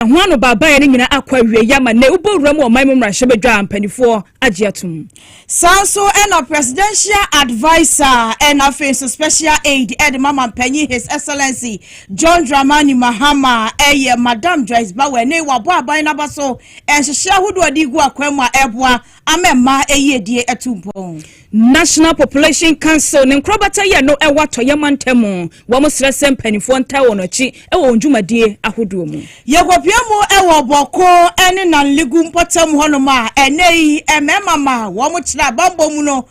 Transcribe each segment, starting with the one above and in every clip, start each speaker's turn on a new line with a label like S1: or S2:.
S1: Ɛho anobaabaeɛ no nyinaa akɔ awieeɛ ama nnɛ wobɔ wura mu wɔ ɔman mu mmarahyɛbadwa a mpanimfoɔ agye atom. Saa nso
S2: na Presidential Adviser na afei nso Special Aide de ma Mampanyin His Excellency John Dramani Mahama yɛ Madam Joyce Baweh ne wabɔ aban no aba so nhyehyɛe ahodoɔ a ɛde regu akwan mu a ɛreboa ama mmaa ayiedie atu mpɔn. National
S1: Population Council ne nkorabata yɛ no ɛwɔ atɔeɛ mantam mu, wɔn srɛ sɛ mpanimfoɔ ntaa wɔn akyi wɔ wɔn dwumadie ahodoɔ mu. Yɛkɔpia mu
S2: wɔ Bɔko ne Nanlegu mpɔtam hɔnom a ɛnnɛ yi mmarima ma wɔn tra bammɔ mu no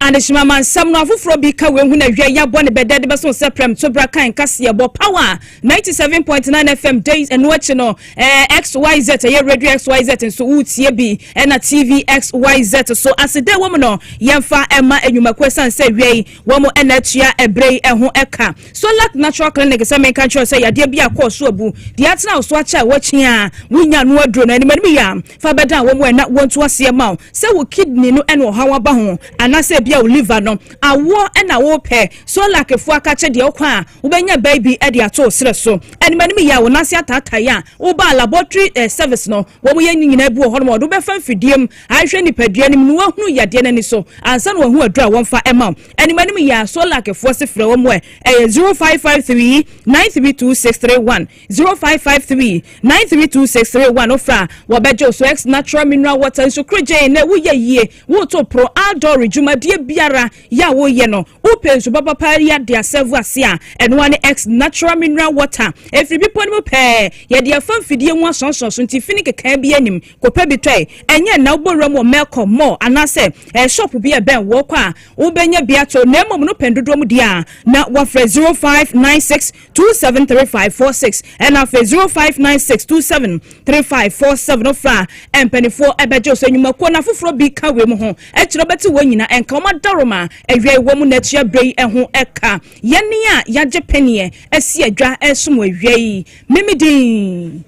S2: Adehyema ma
S1: nsɛm no afoforɔ bi ka wei ho na wiɛ yɛabɔ ne bɛdɛ de bɛso sɛ prɛmtobra kan kaseɛ bɔ power 97.9 FM days ɛno akyi no ɛɛ xyz ɛyɛ radio xyz nso woretie bi ɛna tv xyz so ase dɛ wɔm no yɛmfa ɛma enyumakuo ɛsan sɛ wiɛ yi wɔm ɛna atua ɛbrɛ yi ɛho ɛka so lack natural clinic sɛ menka nkyerɛ sɛ yadeɛ bi akɔ so abu deɛ atena so akyɛ a wɔkyia wonya no aduro no anim anim yɛ fa bɛdan wɔn a na wɔntu aseɛ ma wo sɛ wo kidney no ɛna ɔhaw aba ho anaasɛ ebia wo liver no awoɔ ɛna wopɛ solakefo akakye deɛ ɔkɔ a wobɛnya baabi ɛde ato serɛ so anim anim yɛ a wo nase ataatae a woba laboratory eh, service no wɔn yɛ nyinaa bi wɔ hɔ nom ɔde wobɛfa mfidie mu ahwɛ nipadua no mu na wahunu yadeɛ no ani so ansa na wahu aduro a wɔmfa ɛma wo anim anim yɛ a solakefo se frɛ wɔn ɛ ɛyɛ 0553 932631 Zero five five three nine three two six three one ofra wɔbɛgye so ex natural mineral water nsu korogyen na ɛwo yɛ yie woto poro outdoor dwumadie biara yɛ a woyɛ no wopɛ nsu papapa yɛ ade asɛvo ase a ɛnoa ne ex natural mineral water ɛfiri bepɔ no mu pɛɛ yɛde afa mfidie mu asɔnsɔn so nti fini kekaa bi anim kɔpɛ bi tɔe ɛnyɛ nna wobɔ wura mu wɔ mɛkɔ mɔ anaasɛ ɛshop bi ɛbɛn wɔkɔ a wobɛnya bi ato na mmom no pɛn dodoɔ mu deɛ a na wafrɛ zero five nine six two seven three five four six ɛna afei zero five nine six two seven three five four seven ofra mpanimfoɔ ɛbɛgye ɔsɛ nnwumakuo na afoforɔ bi ka wei mu ho ɛkyerɛ ɔbɛte wɔn nyina ɛnka wɔn adaroma awia ɛwɔ mu na akyia berɛ yi ɛho ɛka yɛne a yɛagye pɛneɛ asi adwa ɛsom awia yi memedin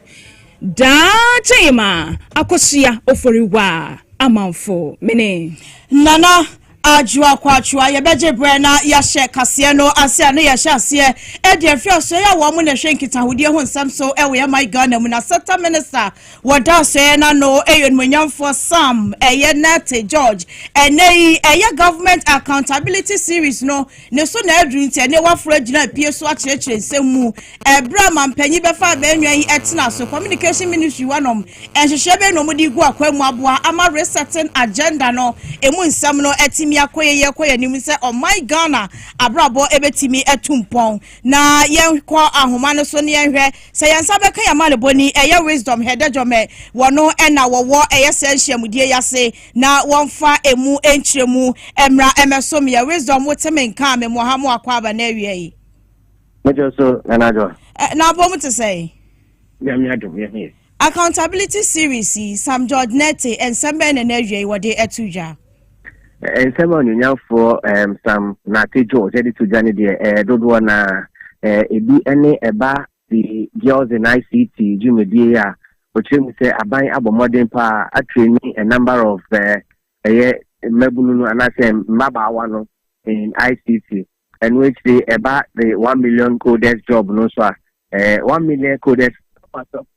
S1: daa kyɛn ma akɔsoa ofori wa amanfo mene nana
S2: Adwoa Kwatwoa, Yɛbɛgye berɛ na yɛahyɛ kaseɛ no ase a na yɛahyɛ aseɛ de afiri asɔeɛ a wɔn na ɛhwɛ nkitahodie ho nsɛm so wɔ yɛn man Ghana mu no asɛta Minister wɔ da asɔeɛ no ano ɛyɛ Onimonyamfoɔ Sam ɛyɛ Nartey George. Ɛnnɛ yi ɛyɛ Government Accountability Series no Ne so na aduru nti, ɛnnɛ wɔaforo agyina apue so akyerɛkyerɛ nsɛm mu. Ɛberɛ a mampanyin bɛfa abɛn nnwan yi tena so, Communication Ministry hɔ nom, nhyehyɛɛ bɛn na wɔde regu akwan mu aboa ama Resetting Agenda no mu nsɛm no atumi akɔ yɛn yɛn kɔ yɛn anim sɛ ɔman Ghana abrabɔ bɛtumi atu mpɔn? Na yɛnkɔ ahoma no so na yɛnhwɛ sɛ yɛn nsa bɛka yɛn amanebɔni, ɛyɛ Wisdom Hedejome, wɔn na wɔwɔ ɛyɛ sɛ nhyiamudie yi ase. na wɔmfa emu nkyerɛmu mmra mmɛso me yɛ wisdom wote me nka me mmɔha mo akɔ aba na awia yi. mɛkyɛ
S3: so nana john. ɛ na abom te
S2: sɛ. nyame adom
S3: yɛ ho yɛ. accountability
S2: series yi sam george nete nsɛm bɛn na na awia yi wɔde ato dwa.
S3: nsɛm a onyonyafoɔ um, sam nate george de to dwa no deɛ eh, dodoɔ na eh, ebi ne ɛba The Girls in ICT dwumadie a ɔkyerɛ mu sɛ aban abɔ mmɔden paa a traini a number of ɛyɛ mmabunu no anaasɛ mmabaawa no in ICT. Ɛno akyire ɛba the one million coders job no nso a ɛɛ one million coders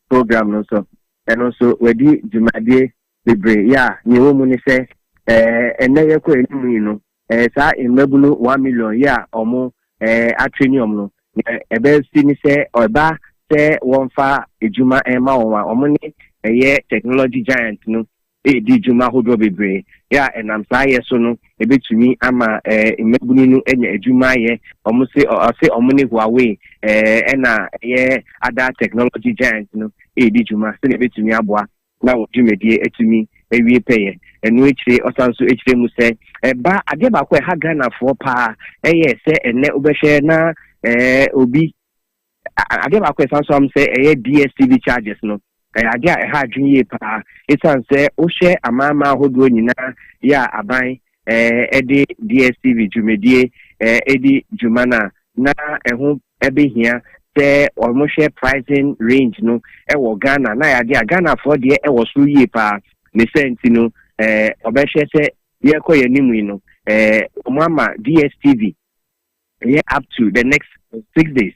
S3: program no nso ɛno nso wadi dwumadie Bebree, yeah, nea ɛwɔ mu ne sɛ, eh, nnɛ yɛkɔ anim yi no, eh, saa mmabunu one million yi a wɔn, eh, atraini wɔn no, nea ɛbɛsi ne sɛ, ɛba sɛ wɔmfa adwuma mma wɔn a, wɔn ne ɛyɛ technology giant no redi dwuma ahodoɔ bebree, yeah, ɛnam saa yɛ so no, ɛbɛtumi ama, eh, mmabunu no anya adwuma ayɛ, wɔn se, ɔse wɔn ne Huawei, eh, ɛna ɛyɛ other technology giant no redi dwuma, sɛdeɛ ɛbɛtumi aboa na wɔn dwumadie atumi awie pɛyɛ. Ɛno akyire ɔsane nso kyerɛ mu sɛ, ɛba adeɛ baako a ɛha Ghanafoɔ pa ara yɛ sɛ ɛnnɛ wobɛhwɛ na obi, adeɛ baako a ɛsane nso am sɛ ɛyɛ DSTV charges no, ɛyɛ adeɛ a ɛha adwene yie pa ara, ɛsiane sɛ wohwɛ amanaman ahodoɔ nyinaa yɛ a aban de DSTV dwumadie di dwuma no a, na ɛho bɛhia sɛ wɔhwɛ pricing range no wɔ Ghana. Na yɛade a Ghanafoɔ deɛ ɛwɔ soro yie paa. Ne sɛ nti no, wɔbɛhwɛ sɛ yɛrekɔ yɛn anim yi no, wɔama DSTV yɛ up to the next six days.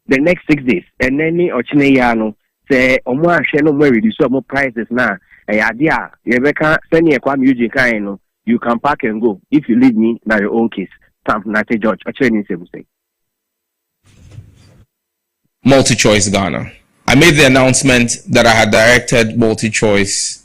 S3: the next six days ɛnɛ ne ɔkyena yi ara no sɛ wɔn ahwɛ na wɔn reduce wɔn prices na ɛyɛ adeɛ a yɛbɛka sɛdeɛ Kwame Eugene kan no you can pack and go if you leave me na your own case stamp Nate George ɔkyerɛ ne nsɛm sɛ.
S4: MultiChoice Ghana. I made the announcement that I had directed MultiChoice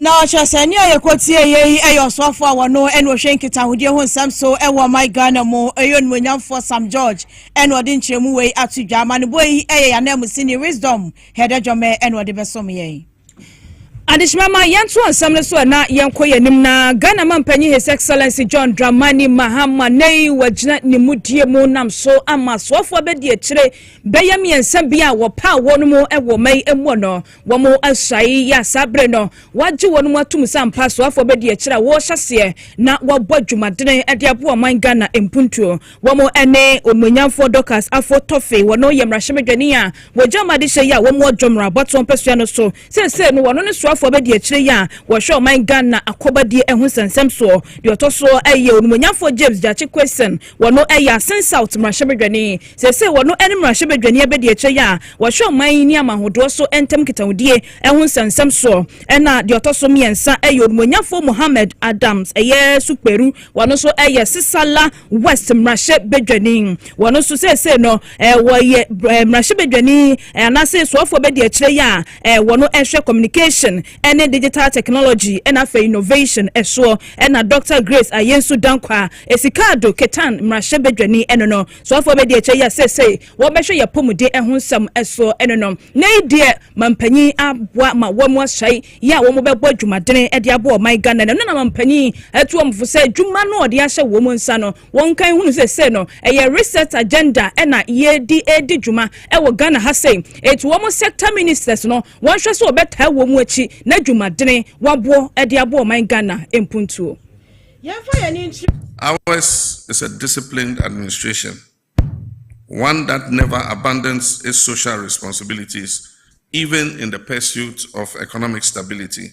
S2: Na kyerɛ sɛ nea yɛkɔtiee yɛ yi yɛ ɔsoafoɔ a wɔno na ɔhwɛ nkitahodie ho nsɛm so wɔ ɔman Ghana mu, ɔyɛ onimuonyamfoɔ Sam George na ɔde nkyerɛmu wei ato dwa. Amanebɔ yi yɛ yɛn ananmusini Wisdom Hɛdɛdwɔmɛ na ɔde bɛsom yɛn. Adehyema
S1: ma yɛntoa nsɛm no so na yɛnkɔ yɛn anim na Ghana Mampanyin His Excellency John Dramani Mahama nnɛyi wagyina ne mudie mu nam so ama asoafoɔ abɛdi akyire bɛyɛ mmiɛnsa bi a wɔpaa wɔnom wɔ ɔma yi muɔ no Wɔasuae yɛ a saa bere no wɔagye wɔnom atom sɛ ampa asoafoɔ bɛdi akyire a wɔrehyɛ aseɛ na wɔabɔ adwumadene de aboa ɔman Ghana mpuntuo. Wɔn ne Onuonyamfoɔ Dorcas Affo Torfey, wɔno yɛ mmarahyɛbadwani a wɔgya wɔn adehyeɛ yɛ a wɔn wɔ Dwom Abatoɔ mpasua no so. Seesei no wɔno ne soafoɔ bɛdi akyire yɛ a wɔhwɛ ɔman Ghana akɔbadie ho nsɛnsɛm soɔ. Deɛ ɔtɔ so yɛ Onuonyamfoɔ James Gyakye Quayson, Wɔn yɛ Asen South mmarahyɛbadwani. Seesei wɔn ne mmarahyɛbadwani abadiakyire yi a wɔhwɛ ɔman yi ne amanhodoɔ so ntam nkitahodie ho nsɛmnsɛm soɔ na deɛ ɔtɔ so mmiɛnsa yɛ Onumɔnyafoɔ Mohammed Adams ɛyɛ Sukperu. Wɔn nso yɛ Sissala West mmarahyɛbadwani. Wɔn nso seesei no wɔyɛ mmarahyɛbadwani anaasɛ soafoɔ abadiakyire yi a wɔn hwɛ communication ne Digital Technology na afei Innovation soɔ na Dɔkta Grace Ayensu Dankwa a Esika Addo Ketan mmarahyɛbadwani no no soafoɔ bɛdi akyire yi a seesei wɔbɛhwɛ yɛn apɔmuden ho nsɛm so no no. Nnɛ yi deɛ Mampanyin aboa ma wɔn ahyɛe yi a wɔbɛbɔ adwumadene de aboa ɔman Ghana no na Mampanyin atu wɔn fo sɛ adwuma no a ɔde ahyɛ wɔn nsa no Wɔnkan hunu sɛ sei no ɛyɛ reset agenda na yɛdi redi dwuma wɔ Ghana ha sei. Eti wɔn sector ministers no wɔnhwɛ sɛ wɔbɛtaa wɔn akyi na dwumadene wɔaboɔ de abɔ ɔman Ghana mpuntuo. Yɛmfa yɛn ani
S5: nkyerɛ. Ours is a disciplined administration, one that never abandons its social responsibilities even in the pursuit of economic stability.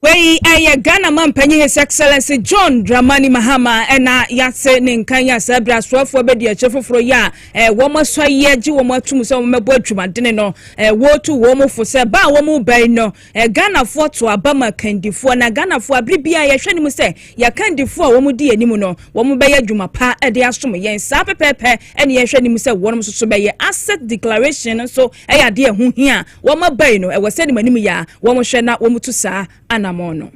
S1: Wei ɛyɛ Ghana Mampanyin His Excellency John Dramani Mahama ɛna yɛase ne nkan yɛ saa bere asoafoɔ abadiakyire foforɔ yɛ a ɛɛ wɔn asua yi agye wɔn atum sɛ wɔn bɛbɔ adwumadene no ɛɛ wɔretu wɔn fo sɛ ba a wɔn reba yi no ɛɛ Ghanafoɔ to aba ma kandifoɔ na Ghanafoɔ abere biara yɛhwɛ ne mu sɛ yɛakandifoɔ a wɔn di anim no wɔn bɛyɛ adwuma pa ɛde asom yɛn saa pɛpɛɛpɛ ɛne yɛhwɛ ne mu sɛ wɔn nso so bɛyɛ asset declaration nso ɛyɛ adeɛ ɛho hia Wɔn abae no, ɛwɔ sɛ animanim yɛ a wɔhwɛ na wɔtu saa anammɔn no.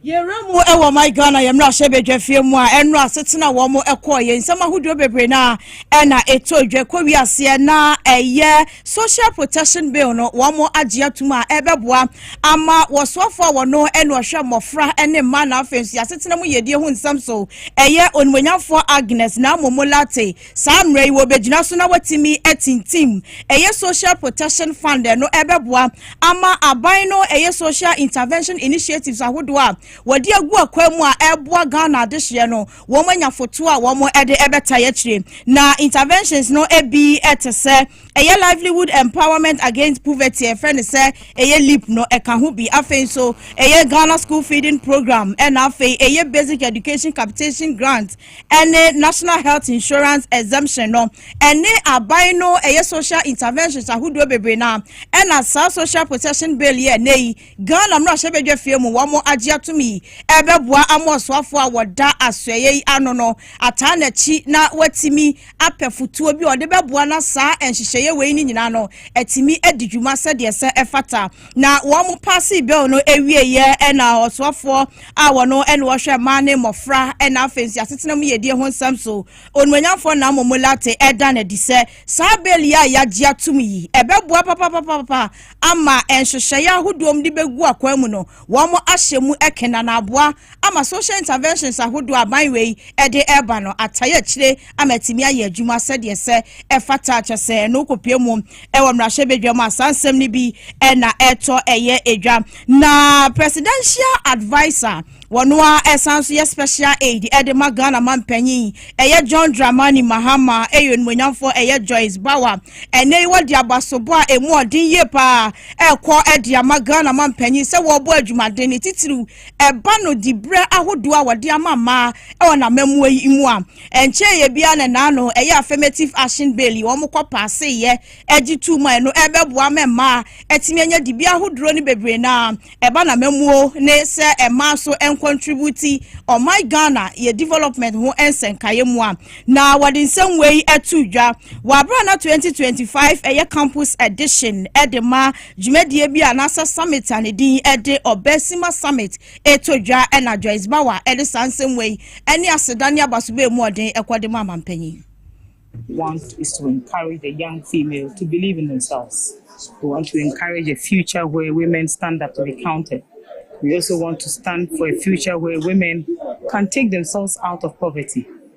S1: Yɛwura mu
S2: wɔ My Ghana, yɛn mmarahyɛ badwafie mu a ɛno asetena wɔn kɔɔ yɛn nsɛm ahodoɔ bebree no a ɛna ɛtɔ dwa kɔ wiaseɛ na ɛyɛ Social Protection Bill no wɔn agye atom a ɛbɛboa ama wɔsoafoɔ a wɔno ɛna ɔhwɛ mmɔfra ne mmaa na afei nso yɛasetena mu yɛdie ho nsɛm so ɛyɛ onimonyamfoɔ Agnes na amomo late Saa mmerɛ yi wɔbɛgyina so na wɔatumi atintim ɛyɛ Social Protection Fund no ɛbɛboa ama aban no ɛyɛ social intervention initiatives ahodoɔ a wɔde agu akwan mu a ɛboa Ghana adehyeɛ no wɔn anya fotoɔ a wɔn ɛde ɛbɛtae akyire na interventions no ebi ɛte sɛ ɛyɛ livelihood empowerment against poverty ɛfrɛ ne sɛ ɛyɛ leap no ɛka ho bi afei nso ɛyɛ Ghana school feeding program ɛna afei ɛyɛ basic education capitation grant ɛne National Health Insurance Exemption no, ɛne aban no ɛyɛ social interventions ahodoɔ bebree na ɛna saa social protection bill yɛ ɛnɛ yi Ghana mmarahyɛ badwa fie mu wɔn agye atom yi ɛbɛboa ama ɔsoafoɔ a wɔda asoɛyɛ yi ano no ataa n'akyi na watumi apɛ fotuo bi a ɔde bɛboa na saa nhyehyɛeɛ wei no nyinaa no atumi adi dwuma sɛdeɛ sɛ ɛfata. na wɔn paasee bill no awieeɛ na ɔsoafoɔ a wɔno ɛne wɔhwɛ mmaa ne mmɔfra ɛna afei nso asetena mu yɛdie ho nsɛm so onimonyamfoɔ na momo late ɛda no adi sɛ saa bill yi a yɛagye atom yi ɛbɛboa papapapapa ama nhyehyɛeɛ ahodoɔ mu de bɛgu akwan mu no wɔn ahyɛ mu ɛkena na aboa ama social interventions ahodoɔ aban wei ɛde ɛba no ataeɛ akyire ama atumi ayɛ adwuma sɛdeɛ sɛ ɛfata kyɛ sɛ no kɔpie mu Ɛwɔ mmarahyɛbadwa mu a saa nsɛm no bi na ɛtɔ ɛyɛ edwa. Na presidential adviser wɔn a ɛsan nso yɛ special aid ɛde ma Ghana manpanyin ɛyɛ John Dramani Mahama ɛyɛ onimonyamfoɔ ɛyɛ Joyce Bawa ɛnɛ yi wɔde abasobɔ a emu ɔden yie paa ɛkɔ ɛde ama Ghana manpanyin sɛ wɔbɔ adwumaden ne titiriw Ɛba no diberɛ ahodoɔ a wɔde ama mmaa wɔ n'amammuo yi mu a, ɛnkyɛeɛ biara na ɛnaa no ɛyɛ Affirmative Action Bill yi wɔn kɔ paaseeɛ gye tuu mu a ɛno ɛrebɛboa ama mmaa atumi anya dibea ahodoɔ no bebree no ara ɛba n'amammuo ne sɛ mmaa nso nkɔntributi ɔman Ghana yɛ development ho nsɛnkaeɛ mu a na wɔde nsɛm wei to dwa wɔ aberɛ a na 2025 ɛyɛ campus edition de ma Dwumadie bi anaasɛ summit a ne din de Obesima Summit reto dwa na Joyce Bauer de saa nsɛm wei ne aseda ne abasobɛɛ mu ɔden kɔ de ma amanpanyin. want
S6: is to encourage the young female to believe in themselves. We want to encourage a future where women stand up to be counted. We also want to stand for a future where women can take themselves out of poverty.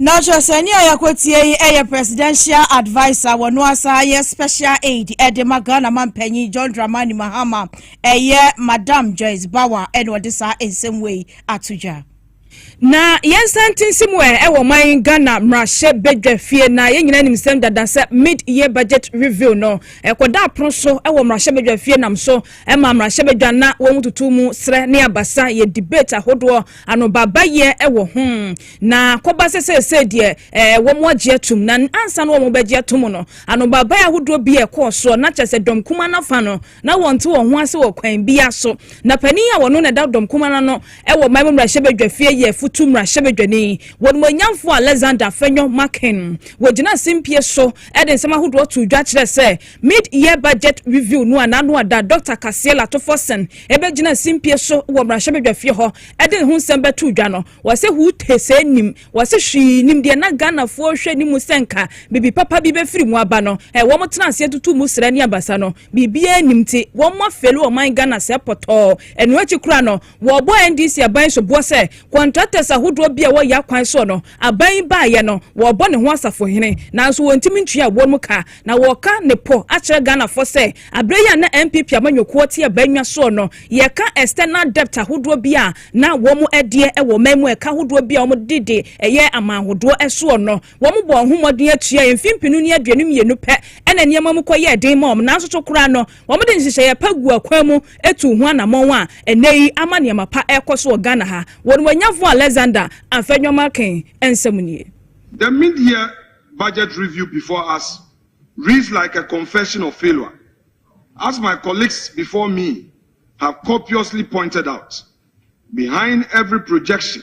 S6: Na
S2: ɔkyerɛsɛni a yɛakɔtie yi yɛ presidential adviser wɔ no asa yɛ special aid de ma Ghana mampanyin John Dramani Mahama. Ɛyɛ Madam Joyce Bawa na ɔde saa nsɛm wei ato dwa. Na
S1: yɛn nsa ntinsi mu ɛ wɔ ɔman Ghana mmarahyɛ badwa fie na yɛn nyinaa nim nsɛm dada sɛ mid year budget review no ɛkɔda apono so wɔ mmarahyɛ badwa fie nam so ma mmarahyɛ badwa na wɔn tutu mu serɛ ne abasa yɛ debate ahodoɔ Anobaebaeɛ wɔ ho. Na kɔba sɛ seesei deɛ ɛɛ wɔagye atom. Na ansa na wɔbɛgye atom no, anobaebaeɛ ahodoɔ bi rekɔ soɔ. Na kyerɛ sɛ dɔm kumaa no afa no, na wɔnte wɔn ho ase wɔ kwan biara so. Na panin a ɔno na ɛda dɔm kumaa no ano wɔ man mu mmarahyɛbadwafie yɛ Futu mmarahyɛbadwani, Wɔnumuonyamfoɔ Alexander Afenyo Makin. Wɔgyinaa simpie so de nsɛm ahodoɔ too dwa kyerɛɛ sɛ, Mid-year budget review no a n'ano ada Dɔkta Kaseɛ Latofɔsen bɛgyinaa simpie so wɔ mmarahyɛbadwafie hɔ de ne ho nsɛm bɛtoo dwa no, wɔse hut hesee nnim, wɔse hwee nnim deɛ na Ghanafoɔ rehwɛ ne mu sɛ nka biribi papa bi bɛfiri mu aba no, wɔn tena aseɛ tutuu mu srɛ ne abasa no, biribiara nnim nti wɔn afeeli ɔman Ghana sɛɛ pɔtɔɔ. Ɛno akyi koraa no, wɔbɔɔ NDC aban soboɔ sɛ contractors ahodoɔ bi a ɛwɔ Yaa kwan soɔ no Aban yi baeɛ no, wɔrebɔ ne ho asafohene, nanso wɔntumi ntua ɛwoɔ mu ka, na wɔreka ne pɔ akyerɛ Ghanafoɔ sɛ, aberɛ yi a na NPP amanyɔkuo te aban nnwa soɔ no, yɛka external debt ahodoɔ bi a na wɔdeɛ wɔ ɔman mu, ɛka ahodoɔ bi a wɔde de yɛ amanhodoɔ soɔ no, wɔbɔɔ ho mmɔden atuaeɛ. Mfeɛ mpenu ne aduonu mmienu pɛ na nneɛma mu kɔyɛɛ den maa wɔn, nanso to koraa no, Wɔde nhyehyɛeɛ pa guu akwan mu tuu ho anammɔn a ɛnnɛ yi ama nneɛma pa rekɔ so wɔ Ghana ha. Wɔn wanyafo Alexander Anfɛnyɔmakin nsɛm nie. The mid-year
S7: budget review before us reads like a confession of failure, as my colleagues before me have copiously pointed out. Behind every projection,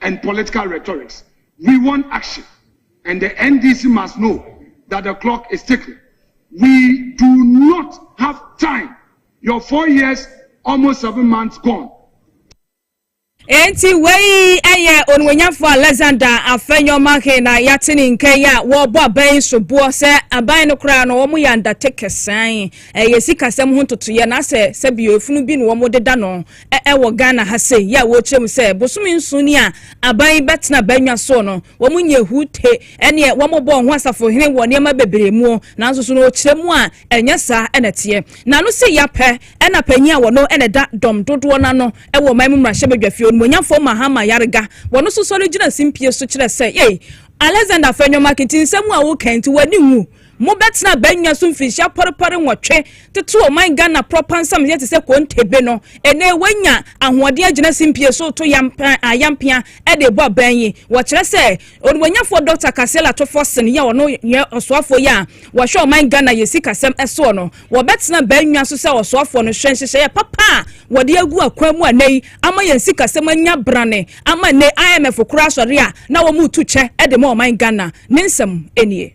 S7: and political rhetorics we want action and the NDC must know that the clock is ticking we do not have time your four years almost seven months gone.
S1: Enti wei ɛyɛ onuonyamfo Alexander Afenyo-Markin na yɛate ne nka yi a wɔrebɔ aban yi so boɔ sɛ aban no koraa no wɔyɛ undertakers san ɛyɛ sikasɛm ho ntotoyɛ na sɛ sɛbio efunu bi na wɔdeda no ɛwɔ Ghana ha sei yɛ a wɔrekyerɛ mu sɛ bosome nson ni a aban yi bɛtena bannwa soɔ no, wɔn nyɛ hu te ɛneɛ wɔbɔ wɔn ho asafohene wɔ nneɛma bebree muo, nanso so no ɔkyerɛ mu a ɛnyɛ saa na ɛteɛ. N'ano se ya pɛ ɛna panyin a wɔno na ɛda dɔm dodoɔ no ano wɔ ɔman mu mmarahyɛbadwafie, Onimonyamfoɔ Mahama Yarega, wɔno nso sɔre gyina simpie so kyerɛ sɛ, Yei Alexander Afenyo Markitinsɛm a woka yi nti w'ani nwu Mobɛtena abannwa so mfinhyia pɔrepɔre nwɔtwe, toto ɔman Ghana prɔpa nsamyɛ te sɛ kontebe no. Ene wanya ahoɔden agyina simpie so reto yam ayampea de rebɔ aban yi. Wɔkyerɛ sɛ Onimuonyafoɔ Dɔkta Kaseal Ato Forson yi a ɔno yɛ ɔsoafoɔ yi a wɔhwɛ ɔman Ghana yɛ sikasɛm soɔ no, wɔbɛtena abannwa so sɛ ɔsoafoɔ no hwɛ nhyehyɛeɛ papa a wɔde agu akwan mu ɛnnɛ yi ama yɛn sikasɛm anya brane ama ɛnnɛ IMF koraa sɔre a na wɔretu kyɛ de ma ɔman Ghana. Ne nsɛm nie.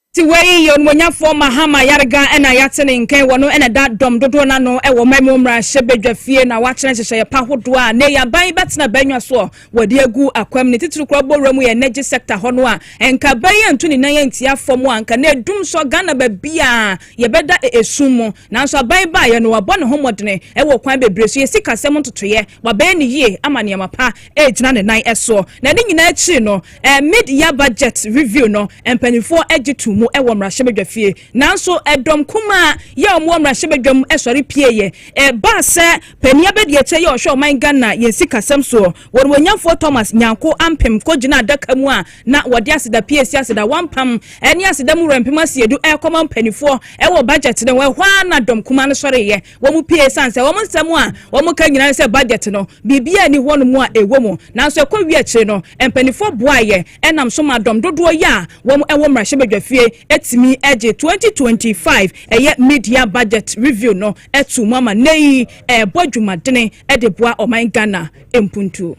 S1: Tewei yɛ onimɔnyafoɔ Mahama Yarga na yɛate ne nkɛn wɔ no na da dɔm dodoɔ no ano wɔ ɔman mu mmarahyɛ badwa fie na wakyerɛ nhyehyɛeɛ pa hodoɔ a nnɛ yi aban yi bɛtena bannwa soɔ wɔde agu akwam ne titiri korɔ bɔwura mu yɛ energy sector hɔ no a nka aban yi antu ne nan antia fam a nka na ɛdum sɔ Ghana babiaa yɛbɛda ɛsum mu nanso aban yi baeɛ no wabɔ ne ho mmɔdene wɔ kwan bebree so yɛ sikasɛm ntotoeɛ wabɛyɛ ne yie ama nneɛma pa ɛregyina ne nan soɔ na ne nyinaa akyiri no Mid-year budget review no, mpanimfoɔ gye too mu wɔ mmarahyɛbadwafie. Nanso dɔm kumaa yi a wɔwɔ mmarahyɛbadwa mu sɔre pieeɛ. Ɛbaa sɛ panin abadiakyire yi a ɔhwɛ ɔman Ghana yɛn sikasɛm soɔ, Wɔnwonnyamfoɔ Thomas Nyarko Ampem kɔgyinaa adaka mu a na wɔde aseda pii asi aseda wampam ne aseda mu werɛmpem asiedu rekɔma mpanimfoɔ wɔ budget no ho. Ɛhɔ ara na dɔm kumaa no sɔreeɛ. Wɔn pue esiane sɛ wɔn nsɛm a wɔka nyinaa ne sɛ budget no, biribiara nni hɔnom a ɛwɔ mu. Nanso ɛkɔwie akyiri no, mpanimfoɔ boaeɛ nam so maa dɔm dodoɔ yi a wɔn wɔ mmarahyɛbadwafie tumi gyee 2025 ɛyɛ Mid-Year Budget Review no too mu ama nnɛ yi ɛrebɔ dwumadene de boa ɔman Ghana mpuntuo.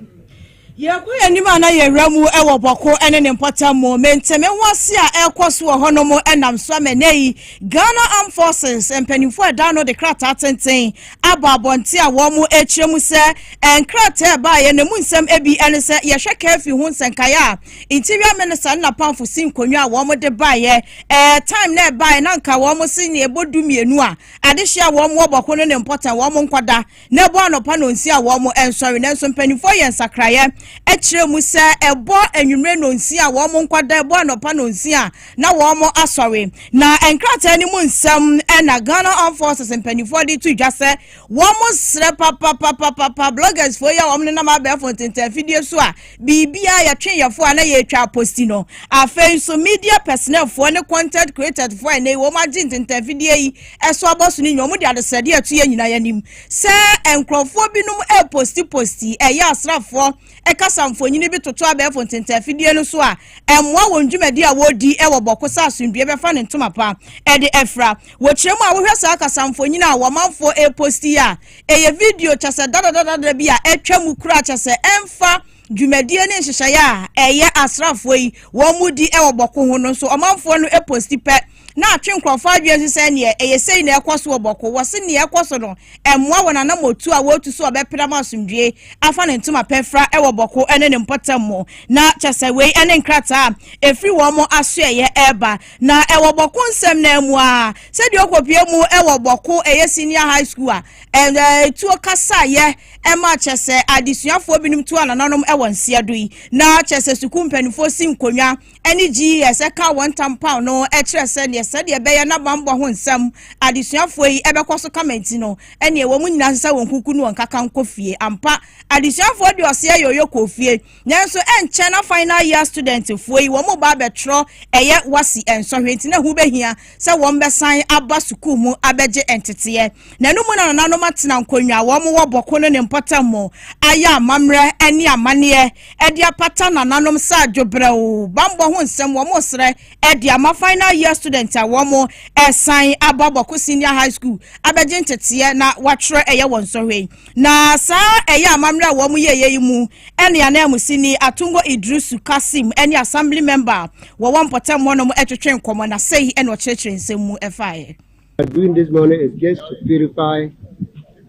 S1: Yɛrekɔ
S2: yɛn anim a na yɛn werɛ mu wɔ Bɔko ne ne mpɔtam mu. Me nte me ho ase a ɛrekɔ so wɔ hɔnom nam so ama nnɛ yi. Ghana Armed Forces mpanimfoɔ a ɛda no de krataa tenten abɔ abɔnten a wɔn rekyerɛ mu sɛ nkrataa ɛbaeɛ no mu nsɛm ebi ne sɛ yɛhwɛ kaafi ho nsɛnkaeɛ a interior minister ne n'apamfo si nkonnwa a wɔn de baeɛ ɛɛ eh, time na ɛbaeɛ na nka wɔn se ne ɛbɔ du mmienu a adehye a wɔn wɔ Bɔko ne ne mpɔtam wɔn nkɔda na ɛbɔ anɔpa nnɔnsia a wɔnsɔre. Nanso mpanimfoɔ yɛ nsakraeɛ kyerɛ mu sɛ ɛbɔ anwummerɛ nnɔnsia a wɔnkɔda, ɛbɔ anɔpa nnɔnsia a na wɔasɔre. Na nkrataa no mu nsɛm na Ghana Armed Forces mpanimfoɔ de to dwa sɛ wɔsrɛ papapapapa bloggersfoɔ yi a wɔnenam abɛɛfo ntentanfidie so a biribiara yɛtwe yɛfo a na yɛretwa aposti no. Afei nso media personnelfoɔ ne content creatorsfoɔ a ɛnɛ yi wɔn agye ntentanfidie yi ɛso abɔ so no nyinaa, wɔde adesrɛdeɛ a ɛto yɛ nyinaa anim sɛ nkurɔfoɔ binom repostiposti ɛyɛ asraafoɔ ɛkasa mfonini bi toto abɛɛfo ntentafidie no so a ɛmmoa wɔn dwumadi a wɔredi wɔ bɔko sɛ asomdue bɛfa ne ntoma pa ɛde afira. Wɔkyerɛ mu a wohwɛ saa kasa mfonini a wɔmanfoɔ reposti a ɛyɛ video kyɛ sɛ dadadadada bi a atwa mu kura kyɛ sɛ ɛmfa dwumadie ne nhyehyɛeɛ a ɛyɛ asraafoɔ yi wɔn mu di wɔ bɔko ho no nso ɔmanfoɔ no posti pɛ na atwe nkurɔfo adwene nso sɛ neɛ ɛyɛ sei na ɛkɔ so wɔ bɔko wɔ se neɛ ɛkɔ so no ɛmmoa wɔn anamɔtu a wɔretu so a ɔbɛpere ama asomdwie afa ne ntoma pɛfra ɛwɔ bɔko ɛne ne mpɔtam mu na kyɛ sɛ wei ɛne nkrataa a ɛfiri wɔn mo asoɛyɛ ɛreba na ɛwɔ bɔko nsɛm na mu a sɛdeɛ ɔkɔpie mu ɛwɔ bɔko ɛyɛ senior high school a ɛtuo kasaeɛ ɛma kyɛ sɛ adesuafoɔ binom tu anananom ɛwɔ nseɛ do yi na kyɛ sɛ sukuu mpanimfoɔ si nkonnwa ne GES ka wɔn ntam paw no kyerɛ sɛ neɛ sɛdeɛ ɛbɛyɛ na bammɔ ho nsɛm adesuafoɔ yi bɛkɔ so kama nti no, ɛneɛ wɔn nyinaa sɛ sɛ wɔn kuku no wɔn kaka nkɔ fie. Ampa, adesuafoɔ de ɔseɛ yɔyɔ kɔɔ fie, nanso ɛnkyɛ na final year studentfoɔ yi wɔn ba abɛtwerɛ ɛyɛ WASSCE nsɔhwɛ nti na ɛho bɛhia sɛ wɔbɛsan aba sukuu mu abɛgye nteteɛ. Na ɛno mu na nananom atena nkonnwa a wɔn wɔ bɔko no ne mpɔtam mu ayɛ amammerɛ ne amanneɛ de apata nananom sɛ adwobrɛw bammɔ ho nsɛm. Wɔresrɛ de ama final year students a wɔn ɛsan aba bɔko senior high school abɛgye nteteɛ na wɔatwerɛ ɛyɛ wɔn nsɔhwɛ yi. Na saa ɛyɛ amammerɛ a wɔn yɛeɛ yi mu ɛne ananmusini Atungo Idrisu Kasim ne Assembly member a wɔwɔ mpɔtam hɔnom twetwe nkɔmmɔ na sɛi na ɔkyerɛkyerɛ nsɛm mu faeɛ. We are doing this
S8: morning is just to purify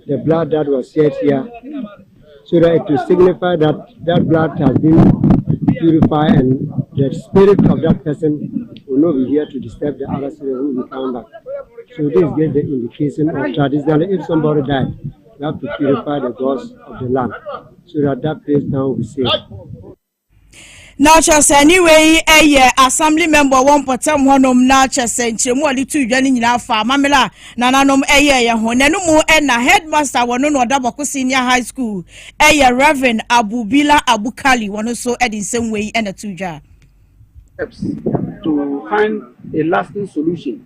S8: the blood that was shed here so that it will signify that that blood has been purified and the spirit of that person will not be here to disturb the other spirit who will come back. So this gives the indication of traditionally if somebody died, you have to purify the gods of the land so that that place now will be safe.
S2: na kyɛ sɛ ne wei yɛ assembly member wɔ mpɔtam hɔnom na kyɛ sɛ nkyerɛmu a ɔde to dwa no nyinaa fa amammerɛ a nananom yɛɛyɛ ho na ɛno mu na headmaster wɔ no na ɔda bɔko senior high school ɛyɛ reverend abubila abukali wɔ no so de nsɛm wei na to dwa to
S9: find a lasting solution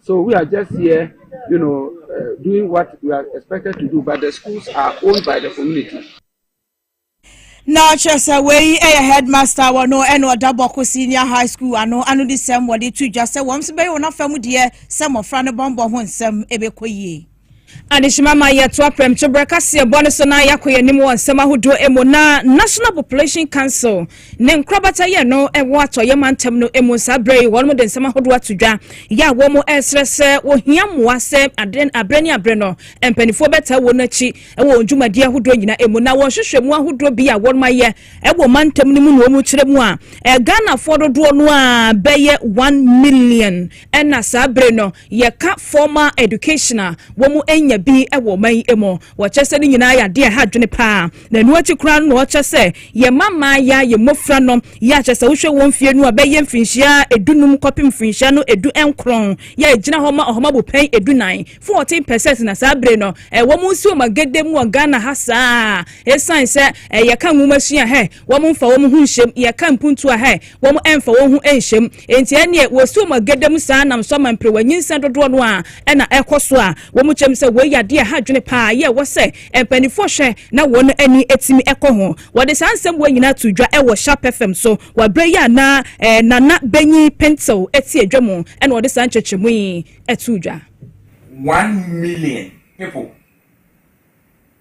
S9: So we are just here you know, uh, doing what we are expected to do but the schools are owned by the community.
S2: na ɔkyerɛ sɛ wei yɛ headmaster wɔ no ɛna ɔda bɔko senior high school ano ano de sɛm wɔde to dwa sɛ wɔn nso bɛyɛ wɔn afa mu deɛ sɛ mmɔfra no bɔnbɔ ho nsɛm ɛbɛkɔ yie Adehyema ma
S1: yɛtoa prɛmto berɛ kaseɛ bɔ no so na yɛakɔ yɛn anim wɔ nsɛm ahodoɔ mu na National Population Council ne nkorabata yɛ no ɛwɔ atɔeɛ mantam no mu saa berɛ yi wɔn de nsɛm ahodoɔ ato dwa yɛ a wɔn ɛresrɛ sɛ wɔhia mmoa sɛ aberɛ ne aberɛ no mpanimfoɔ bɛtaa wɔn akyi wɔ wɔn dwumadie ahodoɔ nyinaa mu na wɔn hwehwɛ mu ahodoɔ bi a wɔn ayɛ ɛwɔ mantam no mu na wɔn kyerɛ mu a Ghanafoɔ dodoɔ no a bɛyɛ one million ɛna saa berɛ no Yɛka formal education a, wɔanya bi wɔ ɔman yi mu. Wɔkyerɛ sɛ ne nyinaa yɛ adeɛ a ɛha adwene pa ara. Na ɛno akyi koraa no na wɔkyerɛ sɛ yɛma mmayewa, yɛn mmɔfra no, yɛ a kyerɛ sɛ wohwɛ wɔn mfeɛ no a, bɛyɛ mfirinhyia dunum kɔpem mfirinhyia no du nkron, yɛ a ɛgyina hɔ ma ɔhoma bopɛn du nan, fourteen percent, na saa bere no wɔnsi wɔn agede mu wɔ Ghana ha saa ara esiane sɛ yɛka nwomasua hɛ. Wɔn mfa wɔn ho nhyɛ mu. Yɛka mpuntuo a, hɛɛ, wɔn mfa wɔn ho nhyɛ mu. Enti ɛnneɛ wɔsi wɔn agada mu saa nam so ama mperewa nyinsɛn dodoɔ no ara na ɛkɔ so a wɔn kyerɛ mu sɛ wei yɛ adeɛ a ɛha adwene pa ara yɛ ɛwɔ sɛ mpaninfoɔ hwɛ na wɔn ani tumi kɔ ho. Wɔde saa nsɛm wei nyinaa too dwa wɔ Sharp FM so wɔ aberɛ yi a na Nana Benyin Pentew te adwa mu na ɔde saa nkyerɛkyerɛmu yi too dwa.
S10: One million people.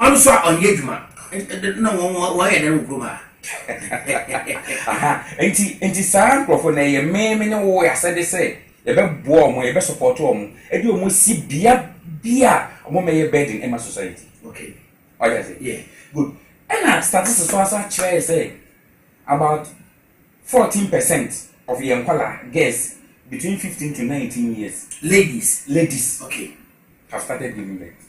S11: Ɔno so a ɔnyɛ adwuma na wɔyɛ dɛn wɔ kurom ha? Aha,
S10: nti nti saa nkurɔfoɔ na ɛyɛ me me ne wo asɛde sɛ yɛbɛboa wɔn, yɛbɛsupɔto wɔn, ɛde wɔn si bea bi a wɔn mɛyɛ burden ɛma society. Okay.
S11: Wagye ase? Yeah.
S10: Good. Ɛna statistics so asa kyerɛ sɛ about fourteen percent of yɛn nkɔla girls between fifteen to nineteen years. Ladies. Ladies. Okay. Have started giving birth.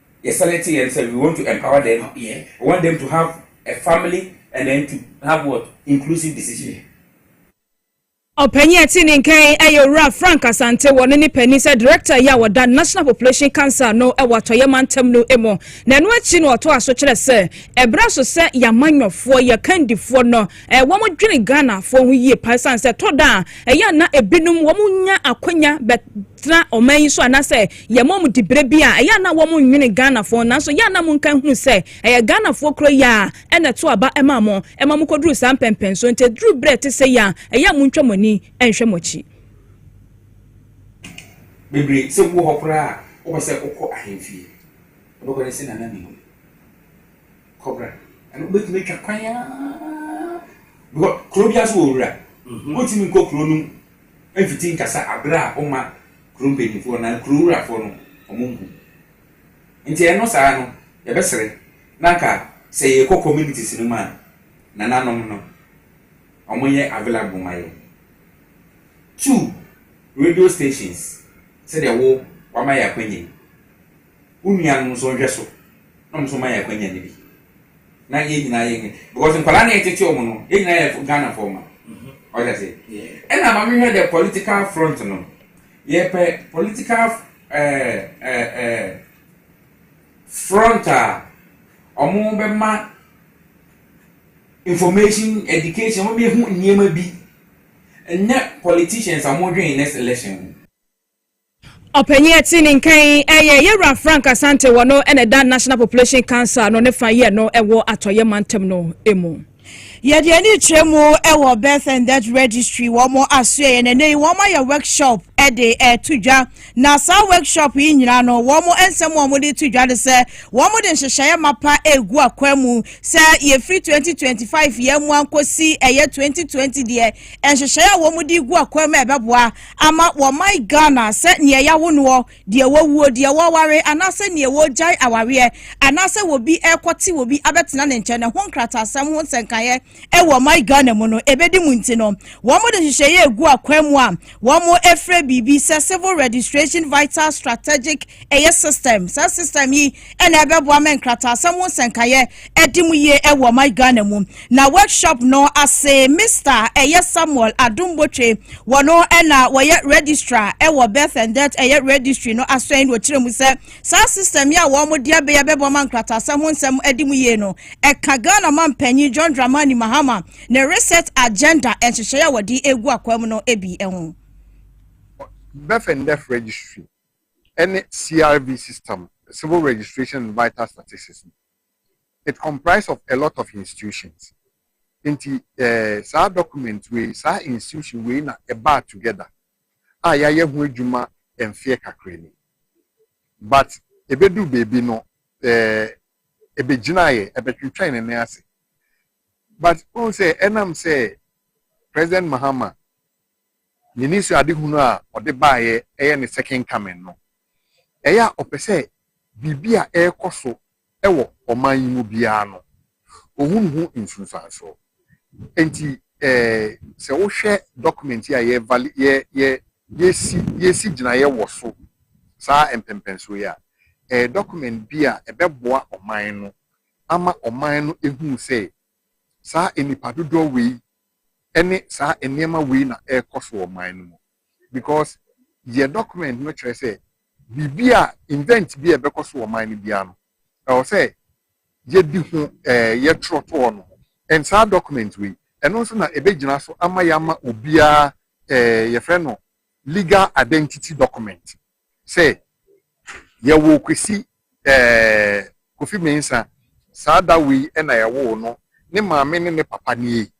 S10: Yɛsane te yɛn sɛ we want to empower them, we want them to
S11: have
S10: a family and then to have what? Inclusive decision.
S1: Ɔpanyin a ɛte ne nka yi yɛ Owura Frank Asante. Wɔne ne panin sɛ Director yi a wɔda National Population Council ano wɔ Atɔeɛ Mantam no mu. Na ɛno akyi no ɔtoa so kyerɛ sɛ, ɛberɛ so sɛ yɛn amanyɔfoɔ, yɛn kandifoɔ no, wɔdwene Ghanafoɔ ho yie paa ɛsiane sɛ ɛtɔ da a, ɛyɛ a na ebinom wɔnya akwanya bɛtena ɔman yi so anaasɛ Yɛ mom di berɛ bi a ɛyɛ a na wɔn nnwene Ghanafoɔ nanso yɛ a na monkan hunu sɛ ɛyɛ Ghanafoɔ korɔ yi ara ɛna ɛto aba maa mo ɛma mo kɔduru saa mpɛnpɛnsoɔ nti ɛduru berɛ a ɛte sɛi a ɛyɛ a montwa mo ani nhwɛ mo akyi.
S10: Bebree sɛ wowɔ hɔ koraa a wopɛ sɛ wokɔ ahemfie wobɛkɔ ne se Nana Minu kɔ bra ɛno wobɛtumi atwa kwan aa because kuro biara so wɔ wura wontumi nkɔ kuro no mfiti nkasa aberɛ a woma kuro mpanyinfoɔ anaa kuro wurafoɔ no wɔn nhu. Nti ɛno saa no yɛbɛsrɛ na anka sɛ yɛkɔ communities no mu a nananom no wɔn yɛ available ma yɛn. Two radio stations sɛdeɛ wo wama yɛn akwanya yi. Wo nuanom nso nhwɛ so na wɔn nso mma yɛn akwanya no bi na yɛn nyinaa yɛ nyɛ because nkwadaa na yɛtete wɔn no yɛn nyinaa yɛ Ghana fɔ ma ɔyɛ ase ɛna ma mehwɛ the political front no yɛpɛ political ɛɛ ɛɛ front a wɔn bɛma information education wɔn bɛhu nneɛma bi ɛnyɛ politicians a wɔn dwen next election ho. Ɔpanyin
S1: a ɛte ne nka yi yɛ yɛn wura Frank Asante, wɔ no na ɛda National Population Council no ne fa yɛ no ɛwɔ atɔeɛ mantam no mu. Yɛde yɛn ani
S2: kyerɛ mu wɔ Birth and Death Registry wɔn asoɛeɛ no ɛnɛ yi wɔn ayɛ workshop de ɛto dwa na saa workshop yi nyinaa no wɔn nsɛm a wɔn de to dwa no sɛ wɔn de nhyehyɛeɛ mapa ɛregu akwan mu sɛ yɛfiri 2025 yɛn mu ankɔsi ɛyɛ 2020 deɛ nhyehyɛeɛ a wɔn de gu akwan mu ɛbɛboa ama wɔman Ghana sɛ neɛ yawo noɔ, deɛ wawuo, deɛ wɔaware anaasɛ neɛ wɔregyae awareɛ anaasɛ wɔbi rekɔte wɔbi abɛtena ne nkyɛn no ho nkrataasɛm ho nsɛnkaeɛ wɔ ɔman Ghana mu no ɛbɛdi mu nti no wɔn de nhyehyɛeɛ ɛgu akwan mu a wɔn ɛfrɛ biribi sɛ Civil Registration Vital Strategic ɛyɛ system saa system yi na ɛbɛboa ma nkrataasɛm ho nsɛnkaeɛ adi mu yie wɔ ɔman Ghana mu. Na workshop no ase Mister ɛyɛ Samuel Adom Botwe, wɔn na wɔyɛ registrar wɔ Birth and Death ɛyɛ registry no aso ɛn na ɔkyerɛ mu sɛ saa system yi a wɔn de abɛyɛ bɛboa ma nkrataasɛm ho nsɛm adi mu yie no ɛka Ghana man panyin John Dramani Mahama ne reset agenda nhyehyɛeɛ a wɔde egu akwam no bi ho.
S12: Birth and Death Registry ne CRV system, Civil Registration and Vital Statistics, no, it comprise of a lot of institutions. Nti eh, saa document wei, saa institution wei na ɛbaa together a yɛayɛ ho adwuma mfeɛ kakra ni. But ɛbɛduru baabi no, eh, ɛbɛgyinaeɛ, ɛbɛtwentwɛn ne nan ase. But wohu sɛ ɛnam sɛ President Mahama Yɛnni sɛ adehunu a ɔde baeɛ yɛ ne second coming no. Ɛyɛ a ɔpɛ sɛ biribi a ɛrekɔ so wɔ ɔman yi mu biara no, ɔhunu ho nsunsuansoɔ. Enti sɛ wohwɛ document yi a yɛresi gyinaeɛ wɔ so saa mpɛnpɛnsoɔ yi a, ɛyɛ document bi a ɛbɛboa ɔman no ama ɔman no ahunu sɛ saa nnipa dodoɔ wei ne saa nneɛma wei na ɛrekɔ so wɔ man no mu because deɛ document no kyerɛ sɛ biribi a invent bi a ɛbɛkɔ so wɔ man no biara no ɛwɔ sɛ yɛdi ho ɛɛ eh, yɛtwerɛ to hɔ no and saa document wei ɛno nso na ɛbɛgyina so ama yɛama obiara ɛɛ eh, yɛfrɛ no legal identity document sɛ yɛwoo Kwesi eh, Kofi Mensah, saa da wei na yɛwoo no, ne maame ne ne papa nie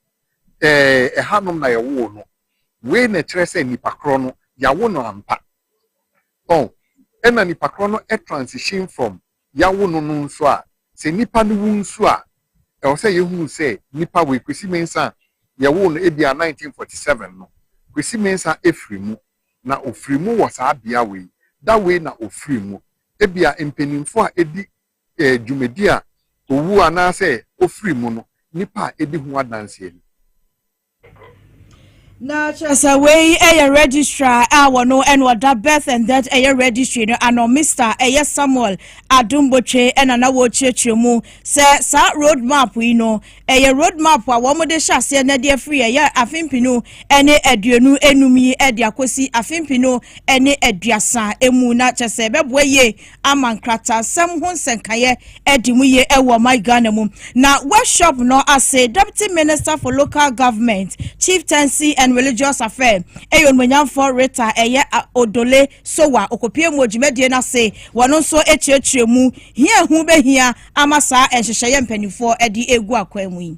S12: eh, ɛhanom na yɛwoo no, wei na ɛkyerɛ sɛ nipa korɔ no, yɛawo no ampa. Oh, ɛna nipa korɔ no transition from yɛawo no no nso a, sɛ nipa no wu nso a, ɛwɔ sɛ yɛhunu sɛ nipa wei, Kwesi Mensah a yɛwoo no ebia 1947 no, Kwesi Mensah firi mu, na ɔfiri mu wɔ saa bea wei, da wei na ɔfiri mu. Ebia mpaninfoɔ a ɛdi dwumadi a ɔwuo anaasɛ ɔfiri mu no, nipa a ɛdi ho adanseɛ ni.
S2: Na kyerɛ sɛ wei yɛ registrar a wɔno ɛna ɔda birth and death ɛyɛ registry no ano Mister ɛyɛ Samuel Adombotwe ɛna na wɔrekyerɛkyerɛ mu sɛ saa road map yi no ɛyɛ road map a wɔn de hyɛ aseɛ na ɛde afiri ɛyɛ afempinu ɛne aduonu enum yi ɛde akɔsi afempinu ɛne aduasa emu na kyerɛ sɛ ɛbɛboa yie ama nkrataasɛm ho nsɛnkaeɛ adi mu yie wɔ ɔman Ghana mu. Na workshop no ase Deputy Minister for Local Government, Chieftaincy and Religious Affairs ɛyɛ onumonyamfoɔ Rita ɛyɛ Odole Sowa okopie mu odwumadie no ase. Wɔn nso kyerɛkyerɛ mu hia ɛho bɛhia ama saa nhyehyɛeɛ mpanimfoɔ de egu akwan mu yi.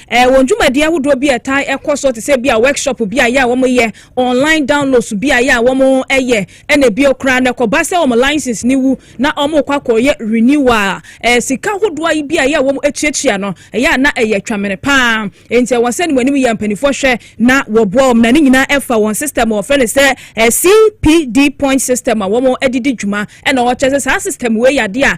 S1: Ɛwɔ ndwumadie ahodoɔ bi a ɛtaa kɔ soɔ te sɛ bi a workshop bi a yɛ a wɔn yɛ, online downloads bi a yɛ a wɔn yɛ, ɛna bio koraa no ɛkɔba sɛ wɔn license no wu na wɔn rekɔ akɔ yɛ renewal a, ɛɛ sika hodoɔ ayi bi a yɛ a wɔn tuatua no ɛyɛ a na ɛyɛ twamene paa. Nti ɛwɔ sɛ ne wɔn anim yɛ a mpaninfoɔ hwɛ na wɔboa wɔn na ne nyinaa ɛfa wɔn system a wɔfrɛ no sɛ CPD point system a wɔn ɛde di dwuma ɛna wɔkyɛ sɛ saa system wei yɛ adeɛ a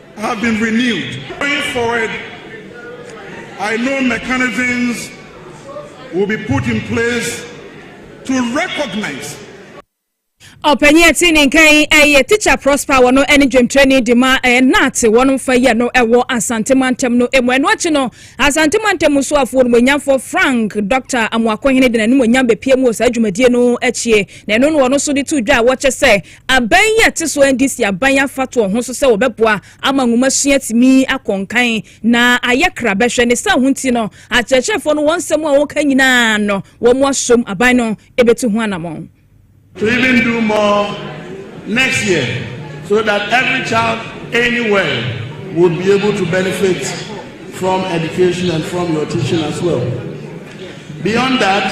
S13: have been renewed. Going forward, I know mechanisms will be put in place to recognize
S1: ɔpanyin ɛte ne nka yi ɛyɛ tikya prosper wɔ no ɛne dwemtrɛni de ma ɛyɛ naate wɔn mfa yɛ no ɛwɔ asante mantam no emu ɛno akyi no asante mantam mu so afoɔ no wɔnyamfoɔ frank dr amoakohene de n'anim onyam bepie mu wɔ saa dwumadie no akyi na ɛno no wɔn nso de to dwa a wɔkyɛ sɛ Aban yi a ɛte so ndc aban afa toɔ ho nso sɛ wɔbɛboa ama nwomasua atumi akɔ nkan na ayɛ kra bɛhwɛ ne saa ho nti no akyerɛkyerɛfoɔ no wɔn nsɛm a wɔka nyinaa no wɔn asom aban no ɛbɛtu ho anamɔn. to even
S14: do more next year so that every child anywhere will be able to benefit from education and from your teaching as well. Beyond that,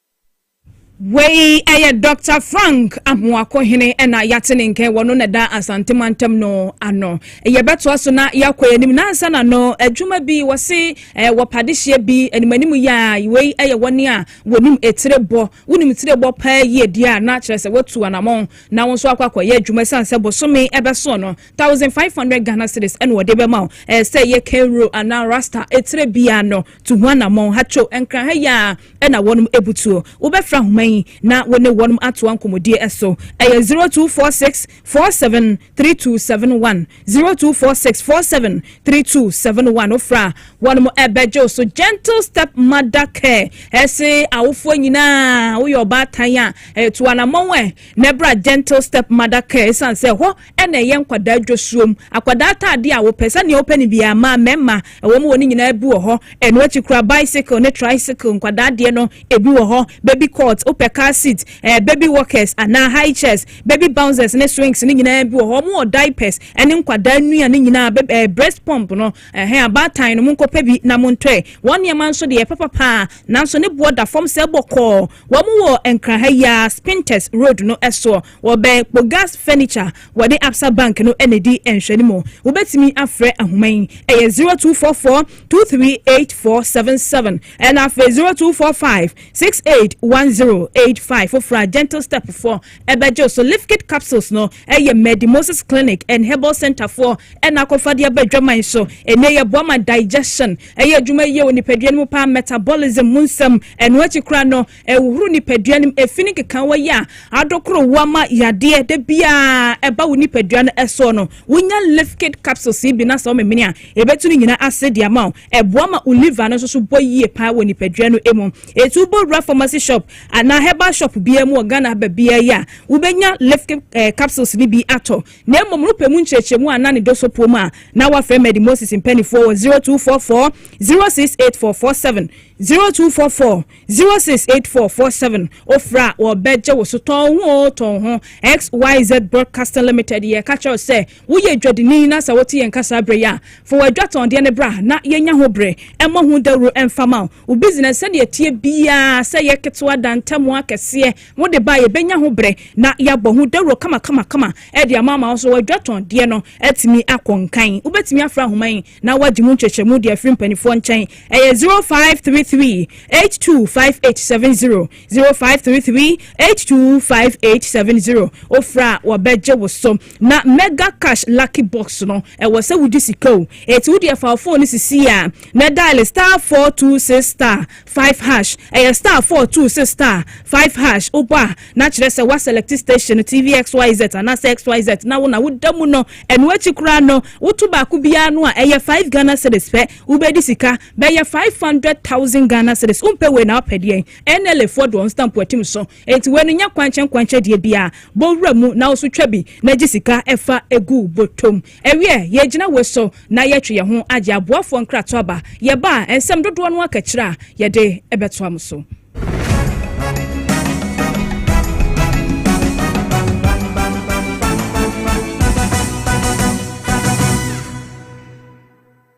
S1: Wei yɛ Dɔkta Frank Amoako Hene na yɛate ne nkɛn wɔ no na ɛda Asante mantam no ano. Yɛbɛtoa so na yɛakɔ yɛn anim nansa na no adwuma bi wɔse eh, wɔ padehyeɛ bi anim anim yɛ a wei yɛ wɔne a wɔnim etire bɔ. Wonim tire bɔ paa yie deɛ a na kyerɛ sɛ watu anamɔn na wo nso akɔ akɔyɛ adwuma ɛsiane sɛ bosome ɛbɛso no 1500 Ghana cedis ɛna wɔde bɛma wo eh, sɛ yɛ Kenro anaa Rasta etire bia no tu ho anammɔn. Hatcho Nkranha yi ara na wɔnom abutuo. Wobɛfrɛ ahoma yi na wo ne wɔnom atoa nkɔmmɔdie so. Ɛyɛ 0246 47 3271, 0246 47 3271. Wofrɛ a, wɔnom bɛgye wo so. Gentle Step Mother Care ɛse awofoɔ nyinaa woyɛ ɔbaatan a, tu anammɔn ɛ na ɛbra Gentle Step Mother Care ɛsiane sɛ ɛhɔ na ɛyɛ nkwadaa dwosuom, akwadaa ataadeɛ a wopɛ, sɛnea wopɛ no biara, mmaa, mmarima, ɛwɔ mu wɔ ne nyinaa bi wɔ hɔ. Ɛno akyi koraa, bicycle ne tricycle, nkwadaa deɛ no, ebi wɔ hɔ, baby cot, wopɛ car seat, ɛɛ, baby walkers anaa high chairs, baby bouncers ne swings no nyinaa bi wɔ hɔ. Wɔwɔ diapers ne nkwadaa nnua no nyinaa, baby, ɛɛ, breast pump no, ɛhɛn, abaatan no, monkɔpɛ bi na montɔɛ. Wɔn nneɛma nso deɛ, ɛpɛ papa ara, nanso ne boɔ da fam sɛɛ bɔkɔɔ. Wɔwɔ Nkran ha yi ara, Spintex Road no soɔ. Wɔbɛn Kpogas Furniture, wɔde Absa Bank no na edi nhwɛanim. Wobetumi afrɛ ahoma yi, ɛyɛ zero two four four two three eight four seven seven ɛna afei zero two four five six eight one zero eight five. Foforɔ a Gentle Step foɔ ɛbɛgye so Lifkit capsules no ɛyɛ Medi Moses Clinic and Herbal Center foɔ ɛna akɔfa de aba adwaman so. Ɛnne yɛ boa ma digestion ɛyɛ adwuma yie wɔ nipadua no mu paa, metabolism mu nsɛm. Ɛno akyi koraa no, ɛhohoro nipadua no mu, efi ne nkekaawa yi a adokoro wo ama yadeɛ da biara ɛba wo nipadua no ɛsoɔ no, wonya Lifkid capsules yi bi na sɛ womemene a, ɛbɛtu ne nyinaa ase de ama wo. Ɛboa ma wo liver no nso so bɔ yie paa wɔ nipadua no mu. Eti wobɔ wura pharmacy shop anaa herbal shop biara mu wɔ Ghana ha baabiara yi a, wobɛnya Lifkid eh, capsules no bi atɔ. Na mmom no pɛ mu nkyerɛkyerɛmu a na ne dɔ so puo mu a, na wafrɛ Medi Moses mpanimfoɔ wɔ 0244 068447 0244 Zero six eight four four seven ofiri a wɔbɛgye wo so tɔn ho o tɔn ho xyz broadcasting limited yɛ ka kyerɛw sɛ woyɛ dwadini na sɛ wote yɛn kasa abere a fo adwa tɔndeɛ ne bra na yɛnya ho bere ɛmmɔ ho dawuro ɛmfa ma wo business sɛdeɛ ɛteɛ biara sɛ yɛ ketewa da ntamu akɛseɛ wode ba yɛbɛnya ho bere na yɛabɔ ho dawuro kama kama kama ɛde ama ama wo so wadwa tɔndeɛ no atumi akɔ nkan wobɛtumi afra ahoma yi na wɔagye mu nkyerɛkyerɛmu de afiri mpanimfoɔ nkyɛn. Ɛyɛ zero five three three eight two five eight seven zero, zero five three three eight two five eight seven zero. Wofrɛ a, wɔbɛgye wo so. Na Mega Cash Lucky Box no, ɛwɔ sɛ wogye sika o. Enti wo deɛ fa wo phone no sisi a, na dial star four two six star. Five hash, Ɛyɛ star four two six star five hash wobɔ a na kyerɛ sɛ wa select station no TV XYZ anaasɛ XYZ na wo na wo da mu no ɛno akyi koraa no wo to baako biara no a ɛyɛ five Ghana cedis pɛ wo bɛ di sika bɛyɛ five hundred thousand Ghana cedis wo mpɛ wei na wo pɛ deɛn NLA foɔ de wɔn stamp atim so enti wei no nyɛ kwankyɛn kwankyɛn deɛ biara bɔ wura mu na wo so twa bi na gye sika ɛfa egu botom. Ɛwiɛ, yɛɛgyina woi so na yɛɛtwe yɛn ho agye aboafoɔ nkrato aba. Yɛba a, nsɛm dodoɔ no aka akyire a, yɛde bɛtoa mo so.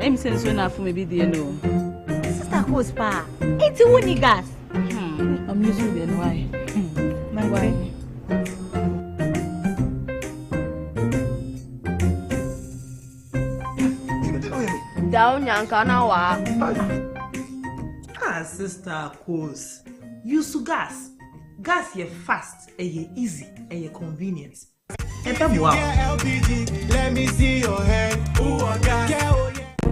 S15: Em sɛ nsuo na afom ebi die no. Sister Coles paa, eti wo ni gas. Hmm, I'm using the NY. Hmm, my wife.
S16: Daw nyanka na waa. Ah
S17: sister cos use gas gas yɛ fast ɛyɛ easy ɛyɛ convenient ɛbɛ boa
S18: wo.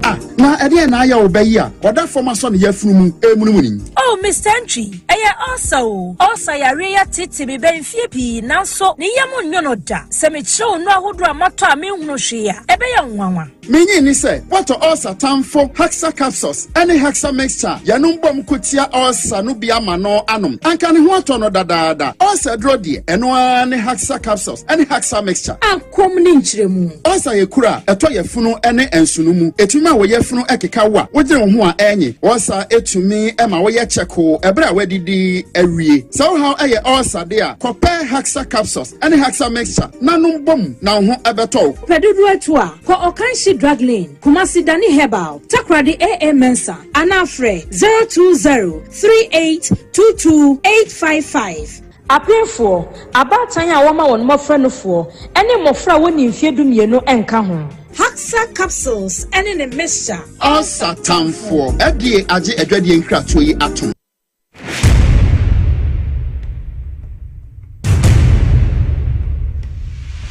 S18: Ah
S19: na ɛdeɛn na ayɛ wo bɛ yi a ɔda fam asɔ ne yafunu mu ɛremunumuni yi. Oh Mister Ntwi.
S20: Ɛyɛ ɔɔsa o, ɔɔsa yareɛ yi ateetee me bɛɛ mfeɛ pii nanso ne yam nnwo no da. Sɛ mekyerɛ wo nnuro ahodoɔ a matɔ a menhunu hwee a, ɛbɛyɛ wo nwanwa. Me nye nni sɛ
S19: woatɔ ɔɔsa tamfo Haxa Capsules ne Haxa Mixture a yɛnom bom ko tia ɔɔsa no bi ama no anom. Anka ne ho atɔ no dadaada. Ɔɔsa aduro deɛ, ɛno ara ne Haxa Capsules ne Haxa Mixture. Komm ne nkyerɛmu.
S20: Ɔsa yɛ kuro a
S19: ɛtɔ yafunu ne nsono mu. Ɛtumi ma wo yafunu keka wo a wogyina wo ho a ɛrenye. Ɔsa tumi ma woyɛ kyɛkoo ɛberɛ a woadidi awie. Sɛ wo haw yɛ ɔsa deɛ a, kɔpɛ Haxa capsules ne Haxa mixture na nom bom na wo ho bɛtɔ wo. Wopɛ dodoɔ atu a,
S20: kɔ Ɔkanhye Drug Lane, Kumasi Dani Herbal, Takoradi AA Mensah anaa frɛ 0203822855. Apemfoɔ, abaatan a wɔma wɔn mmɔfra nufoɔ, ne mmɔfra a wɔnni mfeɛ dumienu nka ho. Haxa capsules ne ne mixture. Ulcer
S19: tamfoɔ, FDA agye adwadie nkratoɔ yi atom.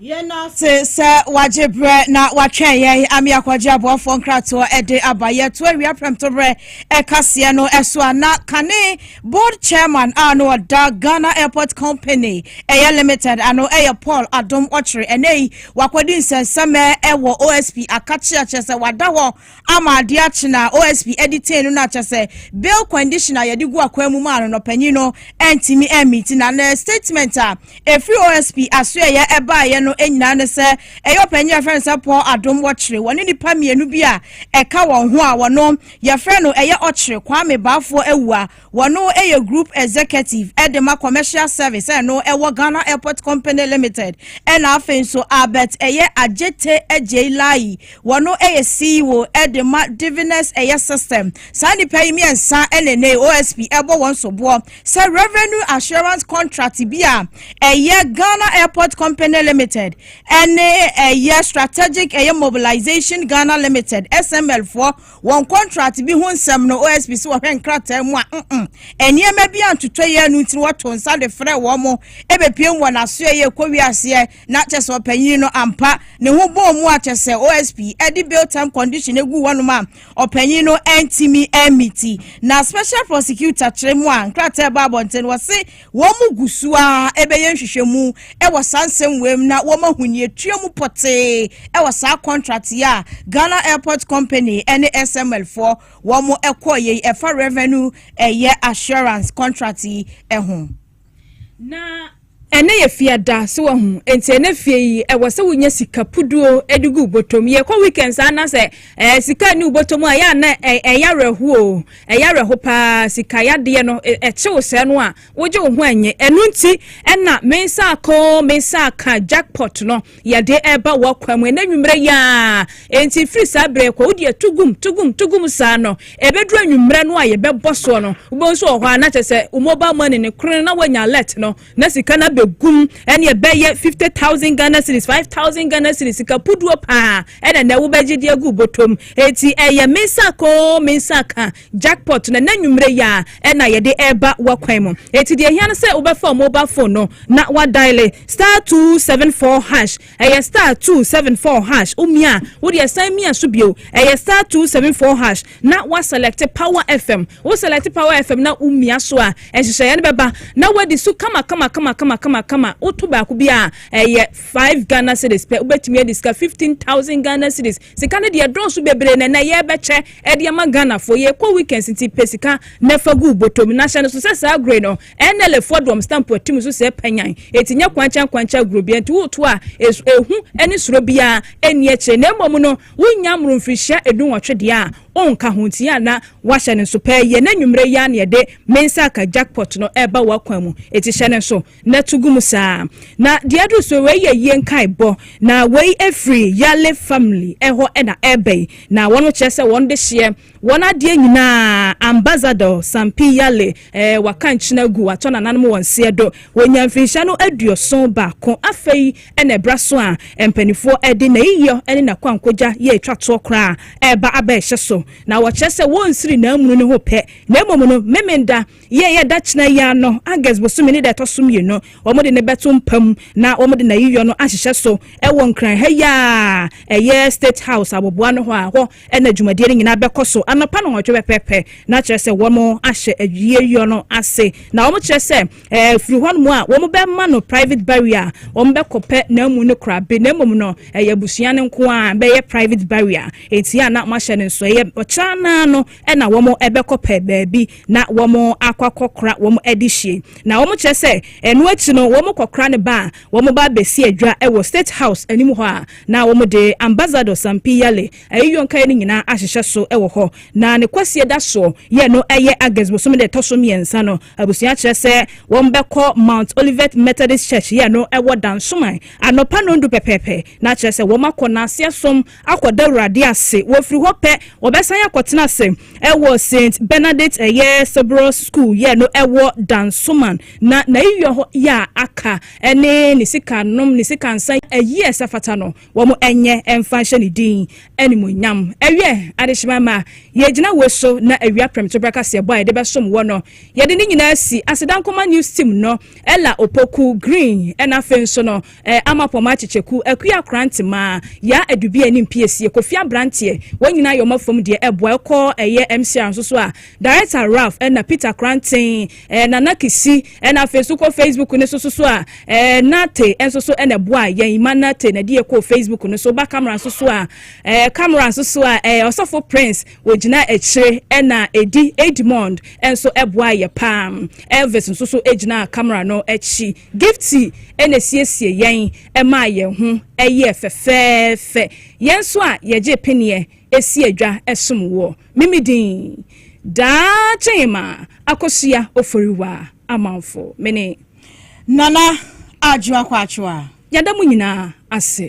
S2: Yɛda ase sɛ wagye berɛ na watwɛn yɛn ame akɔgye aboafoɔ nkratoɔ de aba. Yɛto awia prɛmtoberɛ ɛkaseɛ no ɛso a na kane board chairman a na ɔda Ghana Airport Company ɛyɛ limited ano ɛyɛ Paul Adom Ɔkyere. Ɛnɛ yi wakɔdi nsɛnsɛmɛ ɛwɔ OSP Akakye akyerɛ sɛ wada hɔ ama ade akye no a OSP de tee no no akyɛ sɛ bail condition a yɛde gu akwan mu maa no no panyin no antumi ammiti na na statement a ɛfiri OSP asoɛeɛ ɛbaeɛ no nyinaa ne sɛ ɛyɛ ɔpanyin a yɛfrɛ no sɛ Paul Adom wɔkyere wɔne nnipa mmienu bi a ɛka wɔn ho a wɔno yɛfrɛ no ɛyɛ ɔkyere Kwame Baafoɔ awu a Wɔno yɛ Group Executive de ma Commercial Service a ɛno ɛwɔ Ghana Airport Company Limited ɛna afei nso Albert ɛyɛ Adjete Agyei Layi wɔno yɛ CEO de ma Diviners ɛyɛ System. Saa nnipa yi mmiɛnsa na ɛnɛ yi OSP ɛbɔ wɔn soboɔ sɛ Revenue Assurance Contract bi a ɛyɛ Ghana Airport Company Limited ɛne ɛyɛ Strategic ɛyɛ Mobilization Ghana Limited, SML, foɔ wɔn kɔntrat bi ho nsɛm no, OSP sɛ wɔhwɛ nkrataa mu a, mm, nneɛma bi antotɔ yɛ no nti wɔto nsa de frɛ wɔn mo ɛbɛpiem wɔ n'aso ɛyɛ ɛkɔ wiaseɛ na kyɛ sɛ ɔpanyin no ampa ne ho bɔɔ mu a kyɛ sɛ OSP ɛde bail term condition egu wɔnom a ɔpanyin no ɛntimi ɛmiti na special prosecutor kyerɛ mu a nkrataa ɛbɔ abɔnten wɔ se Wɔgu so ara rebɛyɛ nhwehwɛmu wɔ saa nsɛmmuam mu na wɔn ahonyatua mu pɔtee wɔ saa kɔntrat yi a Ghana Airport Company ne SML foɔ wɔn kɔeɛ yi ɛfa Revenue ɛyɛ Assurance kɔntrat yi ho. Na
S1: ɛnɛ yɛ fiada so wahu, enti ɛnɛ fie yi ɛwɔ sɛ wonya sika puduo de gu wo bɔtɔm. Yɛkɔ weekends anasɛ Ɛɛ sika nni wo bɔtɔ mu a, ɛyɛ a na ɛyɛ awerɛhoɔ o, ɛyɛ awerɛho paa, sika yadeɛ no, ɛkye wo sɛɛ no a, wogye wo ho ɛnye. Ɛno nti ɛna me nsa aka o, me nsa aka, jackpot no, yɛde ɛba w'akwan mu ɛnɛ anwummerɛ yi ara. Enti firi saa berɛ yi kɔ, wode ɛto gum, to gum, to gum saa no, ɛbɛduru anwummerɛ no a yɛbɛbɔ soɔ no, wobɛhu sɛ wɔ hɔ a na kyerɛ sɛ wo mobile money no koro no na woanya alert no, na sika no abɛgum ɛne ɛbɛyɛ 50,000 Ghana cedis 5,000 Ghana cedis sika puduo paa ɛna na wobɛgye de agu botom eti ɛyɛ mensako mensaka jackpot na n'anwummerɛ yi a ɛna yɛde ɛreba wakwan mu eti deɛ hia no sɛ wobɛfa mobile phone no na wadaile star 274 hash ɛyɛ star 274 hash womia wodeɛ san mia so bio ɛyɛ star 274 hash na waselect power fm Wo selɛte power FM na wo mia so a, nhyehyɛeɛ no bɛba na woadi so kamakamakamakama. Wo to baako bi a, ɛyɛ five Ghana cedis pɛ. Wobɛtumi adi sika fifteen thousand Ghana cedis. Sika no deɛ ɛdɔɔso bebree na ɛnɛ yɛrebɛkyɛ de ama Ghanafoɔ. Yɛrekɔ weekends nti pɛ sika na fa gu wo bɔtɔ mu. Na hyɛ no so sɛ saa agorɔ yi no, NLA foɔ de wɔn stamp ati mu nso sɛɛ panyan. Enti nyɛ kwankyankwankya agorɔ biara nti woreto a, ehu ne suro biara nni akyire. Na mmom no, wonya mmoro mfirihyia dunwɔtwe deɛ a, ɔnka ho nti a na wahyɛ no nso pɛ yɛ na anwummere yi ara na yɛde me nsa aka jackpot no ɛreba w'akwan mu eti hyɛ no nso na to gu mu saa na deɛ aduru so wei yɛ yie nkaebɔ na wei efiri yale family ɛhɔ ɛna ɛreba yi na wɔn kyerɛ sɛ wɔn de hyeɛ wɔn adeɛ nyinaa ambassador sampi yale Eh, waka nkyena gu, watɔ nananom wɔn seɛ do. Wɔnya mfirinhyia no aduoson baako. Afei na ɛberɛ so a mpanifoɔ de n'ayiyɔ ne n'akwankogya yɛ ɛtwa toɔ koraa a ɛreba aba ɛhyɛ so. Na wɔkyerɛ sɛ wɔnsiri n'amunu no ho pɛ, na mmom no Memenda, yɛ ɛyɛ da kyena yi ara no, August bosome ne da ɛtɔ so mmienu, wɔde no bɛto mpa mu na wɔde n'ayiyɔ no ahyehyɛ so wɔ Nkran ha yi a ɛyɛ State House aboboano hɔ a hɔ Ɛnna dwumadie no nyinaa bɛkɔ so anɔpa nnɔnwɔtwe pɛpɛɛpɛ, na kyerɛ sɛ wɔahyɛ awieyɔ no ase. Na wɔkyerɛ sɛ ɛɛ firi hɔnom a, wɔbɛma no private barrier a wɔbɛkɔpɛ n'amu no korabe, na mmom no ɛyɛ abusua no nko ara bɛyɛ private barrier. Enti a na wɔahyɛ no nso ɛyɛ ɔkyena no ara no na wɔbɛkɔpɛ baabi na wɔakɔ akɔkora wɔn adehyeɛ. Na wɔkyerɛ sɛ ɛno akyi no wɔkɔkora no ba a, wɔba bɛsi adwa wɔ State House anim hɔ a, Na wɔde Ambassador Sampi Yale ayiyɔnkaeɛ no nyinaa ahyehyɛ so wɔ hɔ. Na ne kwasie da soɔ yɛ no ɛyɛ August bosome da ɛtɔ so mmiɛnsa no. Abusua kyerɛ sɛ wɔbɛkɔ Mount Olivet Methodist Church yɛ no ɛwɔ Dansoman anɔpa nɔndu pɛpɛɛpɛ. Na kyerɛ sɛ wɔn akɔ Naseɛ som akɔ da Awurade ase. Wɔfiri hɔ pɛ wɔbɛsan akɔtena ase ɛwɔ Saint Bernadette ɛyɛ Cerberus School yɛ no ɛwɔ Dansoman. Na n'ayiyɔ yɛ a aka. ne ne sika nom ne sika nsa ayi a ɛsɛ fata no wɔn ɛnyɛ ɛmfa nhyɛ ne din animonyam ɛwiɛ adehyema ma yɛgyina wei so na awia prɛmto berɛ kaseɛbɔ a yɛde bɛsom wɔ no yɛde ne nyinaa si asedankoma news team no ɛla opoku green ɛna afei nso no ama pɔma akyekyeku akuya akorantema yaa adubia ne mpiesie kofi abranteɛ wɔn nyinaa yɛ wɔn afam deɛ ɛboa ɛkɔ ɛyɛ mcr nso so a Director Ralph na Peter Kranten, Nana Kisi na afei nso kɔ Facebook no so so a Nate nso so na ɛboa yɛn ma Nate na ɛde yɛ kɔɔ Facebook no so ba camera nso so a camera nso so a ɔsɔfo Prince wɔgyina akyire ɛna ɛdi Edmond nso ɛboa yɛ paa Elvis nso so gyina camera no akyi Gifty na siesie yɛn ɛmaa yɛn ho ɛyɛ fɛfɛɛfɛ yɛn nso a yɛgye peneɛ ɛsi adwa ɛsom woɔ Me me din daa kyema akosua oforiwa amanfo me ne. Nana adwoa
S2: kwakyewa
S1: yɛda mo nyinaa
S2: ase.